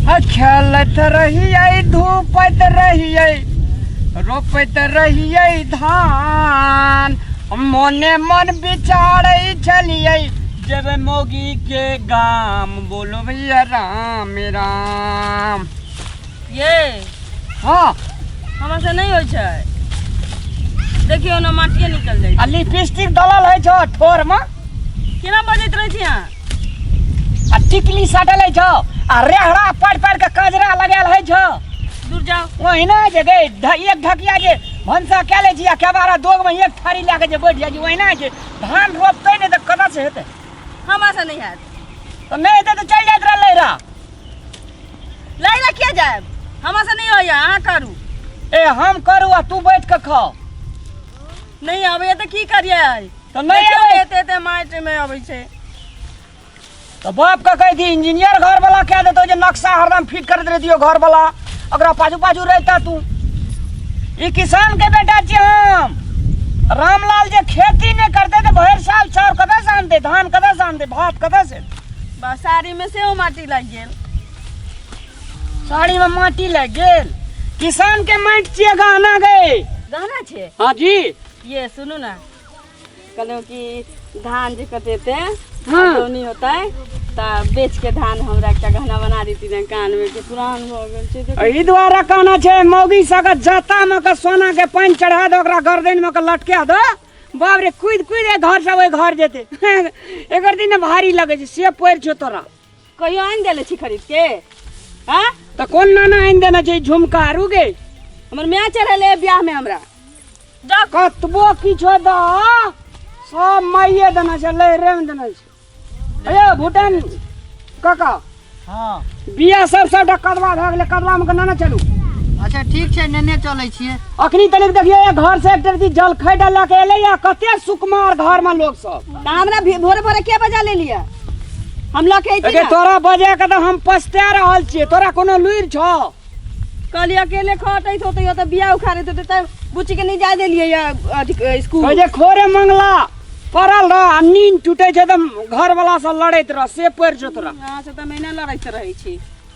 आ खेलत रहियै धूपत रहियै रोपत रहियै धान मोने मन विचारै छलियै जेबै मोगी के गाम बोलो भैया राम राम ये हाँ हमरा से नहीं होइ छै देखियो ना माटिए निकल जाइ आ लिपस्टिक दलल है छो ठोर में केना बजैत रहै छी अहाँ आ टिकली सटल है छौ आ रेहड़ा पड़ पड़ के कजरा लगाल है छौ दूर जाओ ओहिना जे गए ढ- एक ढकिया जे भनसा कए लै छी आ केबारा दोग मे एक थारी लए के जे बैठ जाइ छी ओहिना जे धान रोपतै ने तऽ कतऽ से हेतै हमरा से नहीं हैत तऽ नहि हेतै तऽ चलि जाइत रहलै रह लड़े ला किया जाए हमरा से नहीं होइया अहाँ करू ए हम करू आ तू बैठ के खाओ नहीं आबैया तऽ की करियै तऽ नहि देखियौ अबै एते एते माटि मे अबै छै तऽ बाप के कहि दी इंजीनियर घर वाला कह देतो जे नक्शा हरदम फिट करैत रहितियो घर वाला ओकरा पाछू पाछू रहता तू ई किसान के बेटा छी हम रामलाल जे खेती नहि करते तऽ भरि साल चाउर कतऽ से आनते धान कतऽ से आनते भात कतऽ से बसारी मे सेहो माटि लागि गेल साड़ी में माटी लग गेल किसान के माटि छिए गहना गए गहना छै हाँ जी ये सुनू ने कहलहुँ कि धान जे कटेते हाँ। दौनी होतै तऽ बेच के धान हमरा एकटा गहना बना देती ने कान में के पुरान हो गेल छै तऽ एहि दुआरे कहना छै मौगी सबके जाता में के सोना के पानि चढ़ा दो ओकरा गर्दन में के लटका दो बाप रे कुद कुद घर से ओहि घर जेते एकर दिन भारी लगे छै से पड़ि छौ तोरा कहियो आनि देले छी खरीद के हाँ तो कौन नाना आइन देना चाहिए झुमका आरू के हमर माय चढ़ेले ब्याह में हमरा जा कतबो किछो द सब माइये देना छै लहरे में देना छै अयो भूटान काका हाँ बिया सब सबटा कदवा भए गेलै कदवा में के नाना चलू अच्छा ठीक छै नेने चलै छियै अखनी तनिक देखियो ये घर से एक तरह जलखै डाल के एलै या कते सुकुमार घर में लोग सब तऽ हमरा भी- भोरे भोरे के बजा ले लिया हम लऽ के अइती अगे ना। तोरा बजे के तऽ हम पछता रहल छियै तोरा कोनो लुरि छौ कहली अकेले खटैत होतै तऽ बिया उखाड़ैत होतै तऽ बुच्ची के नहीं जाय देलियै या अथी कहै स्कूल जे खोरे मंगला पड़ल रह आ नींद टूटे छै तऽ घर वाला से लड़ैत रह से पड़ि छौ तोरा अहाँ से तऽ हम एना लड़ैत रहै छी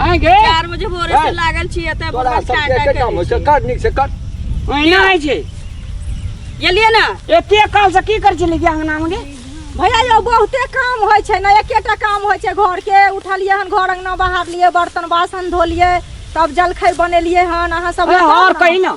आइ गे चार बजे भोरे से लागल छी एतऽ तोरा बस सब टाटा एके काम होइ छै कर नीक से कर ओहिना होइ छै गेलिए ना एते काल से की कर छली गे अंगना में गे भैया यौ बहुते काम होइ छै ने एकेटा काम होइ छै घर के उठलिए हन घर अंगना बहारलिए बर्तन बासन धोलिए तब जलखै बनेलिए हन अहाँ सब अरे और कही ना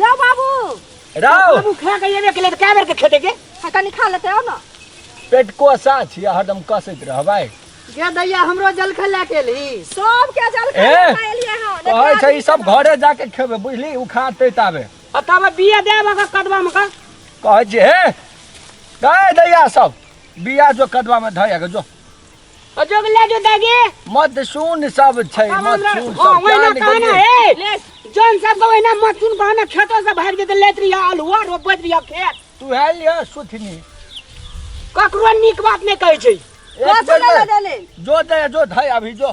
यो बाबू राव बाबू खा के एबे केले त कै बेर के खेते के हाँ, तनी खा लेते हो ना पेट कोसा छियै हरदम कसैत रहबै गे दैया हमरो जलखै ला के ली सब के जल खा ए, खा एलिए हँ कहै छै ई सब घरे जाके खेबै बुझली उ खाते ताबे आ तब बिया देब अगर कदबा में का कहै छै हे गए दैया सब बिया जो कदवा में धै के जो अजोग ले जो दागे मत सुन सब छै मत सुन सब हाँ, वही ना जान कहना गेलियै। है ले जौन सब को वही ना मत सुन कहना खेतों से भाग देते लेत रही अलुआ रोपत रही खेत तू है लिया सुथनी ककरो नीक बात नहीं कहै छै एक बेर में जो दे जो धै अभी जो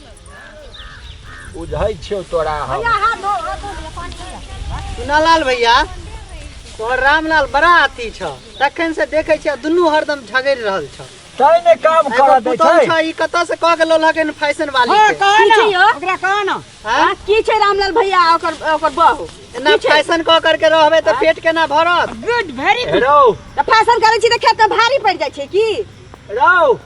बुझै छियौ तोरा हम सुनालाल भैया तोहर रामलाल बड़ा अथी छ तखन से देखै छियै दुनू हरदम झगड़ि रहल छ तै ने काम एगो करऽ दै पुतहु छै छ ई कतऽ से कह गेलो लगन फैशन वाली के कहे ना छियो? ओकरा कहे ना हाँ? की छै रामलाल भैया आ ओकर ओकर बहू ना फैशन कह करके रहबे तऽ पेट केना भरत गुड वेरी रौ तऽ फैशन करै छी तऽ खेत भारी पड़ि जाइ छै की रौ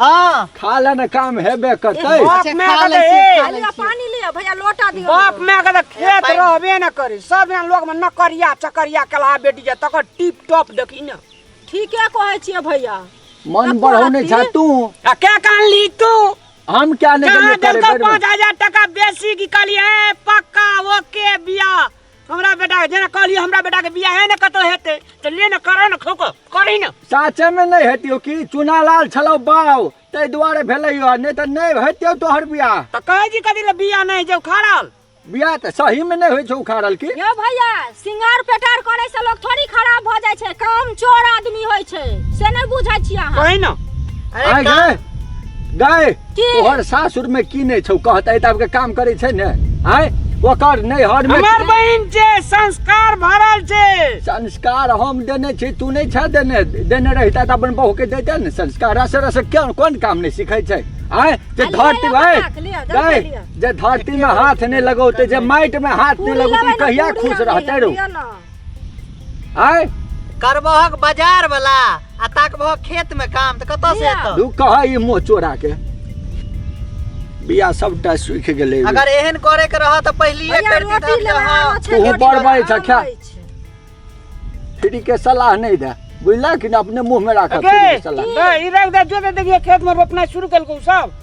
हाँ खा ले ना काम हेबे करतै बाप अच्छा, माय खा के लै छी, हे। खा लै छी। पानी लिया भैया लोटा दियो बाप माय के त खेत पानि- रहबे न करी सब यहाँ लोग में नकरिया चकरिया कला बेटी जा तकर टिप टॉप देखी न ठीके कहै छियै भैया मन बढ़ौने छा तू आ के कान ली तू हम क्या नहीं जहाँ करिए करे देलको बेर पाँच हजार टका बेसी की कहली है पक्का ओके बिया हमरा बेटा जेना कहलिए हमरा बेटा के बियाह ने कतो हेते त ले न करो न खोको करी न साचे में नहीं हेतियो कि चुनालाल छलो बाव ते दुआरे भेलै यो नहीं त नहीं हेतियो तोहर बियाह त कहे जी कदी ले बियाह नहीं जे उखाड़ल बियाह त सही में नहीं होय छै उखाड़ल की यो भैया सिंगार पेटार करे से लोग थोड़ी खराब भ जाय छै काम चोर आदमी होय छै से नहीं बुझै छी अहाँ कही न अरे आय का- गए गए की तोहर सासुर में की नहीं छौ कहते तब के काम करे छै ने आय ओकर नहीं हर में हमर बहिन छै संस्कार भरल छै संस्कार हम देने छी तू नहीं छे देने देने रहिता त अपन बहू के देते ने संस्कार रस रस कोन कोन काम नहीं सीखे छै आय जे अरे धरती ले भाई बना के लिअ, दस गए, लिअ। जे धरती में हाथ नहीं लगौते जे माइट में हाथ नहीं पूरी लगौते लेबै ने, कहिया पूरी खुश आनलियै, रहते रहो लिअ ने। आय करबहक बाजार वाला आ ताकबहक खेत में काम त कतऽ से लिया। एतऽ तू कह ई मुँह चोरा के बिया सबटा सूखि गेलै अगर एहन करे के रह त पहिलिए भैया कर रोटी दीतन ले त आनो हाँ छै, तू रोटी बड़ बना बड़ि छऽ, खा। लै छै। फ्री के सलाह नहीं दे बुझला कि ना अपने मुंह में राखत अगे, फ्री के सलाह दे, ई रख दे, जो दे देखिए खेत में रोपना शुरू कर सब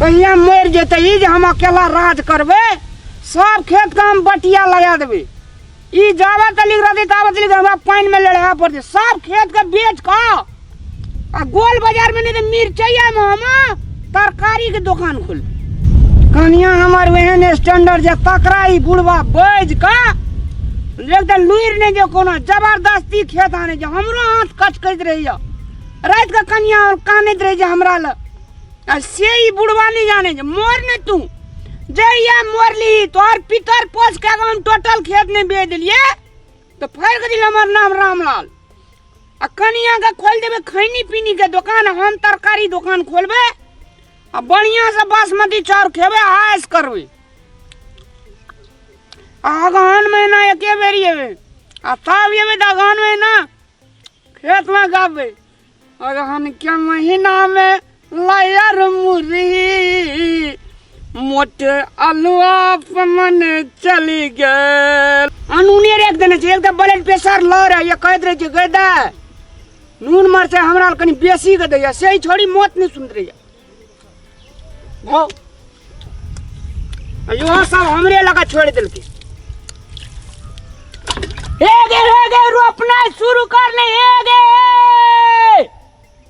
कहिया मरि जेतै ई जे हम अकेला राज करबै सब खेत के हम बटिया लगा देबै ई जाबे तक लिख रहतै ताबे तक लिख हमरा पानि में लड़ाए पड़तै सब खेत के बेच कऽ आ गोल बाजार में नहीं तो मिर्चैया में हम तरकारी के दुकान खोल कनिया हमार वहन स्टैंडर्ड जे तकरा ई बुढ़वा बैज का एकदम लुइर ने जे कोनो जबरदस्ती खेत आने जे हमरो हाथ कच करैत रहैया रात के कनिया और कानैत रहै जे हमरा ल आ से ई बुढ़वा नहीं जाने जे मोर ने तू जे या मोर ली तोहर पितर पोस के हम टोटल खेत नहीं बेच दिलिए तो फैर के दिल हमार नाम रामलाल आ कनिया के खोल देबे खैनी पीनी के दुकान हम तरकारी दुकान खोलबे आ बढ़िया से बासमती चाउर खेबे आयस करबे आ अगहन महीना एके बेरी एबे आ तब एबे तऽ अगहन महीना खेत में गाबे अगहन के महीना में लायर मुरी मोट अलुआ पमन चली गए अनूने रेख देने छै एक तऽ ब्लड प्रेशर लो रहे ये कहैत रहे छै गए दा नून मर से हमरा लग कनी बेसी के दैया से ही छोड़ी मौत नहीं सुनत रहिया भौ इहो सब हमरे लगा छोड़ देलकै हे गे हे गे रोपनाइ शुरू कर ले हे गे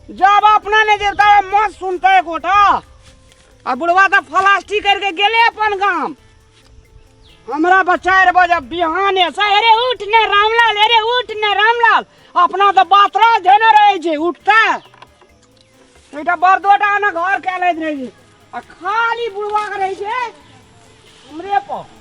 जब अपना ने जे तब मत सुनते एकोटा आ बुढ़वा तऽ फलास्टी करके गेले अपन गाम हमरा बचार बजे बिहाने से अरे उठ ने रामलाल अरे उठ ने रामलाल अपना तऽ बातरा धेने रहै छै उठते एकटा बरदोटा ने घर कए लैत रहै छै आ खाली बुढ़वा के रहै छै हमरे पर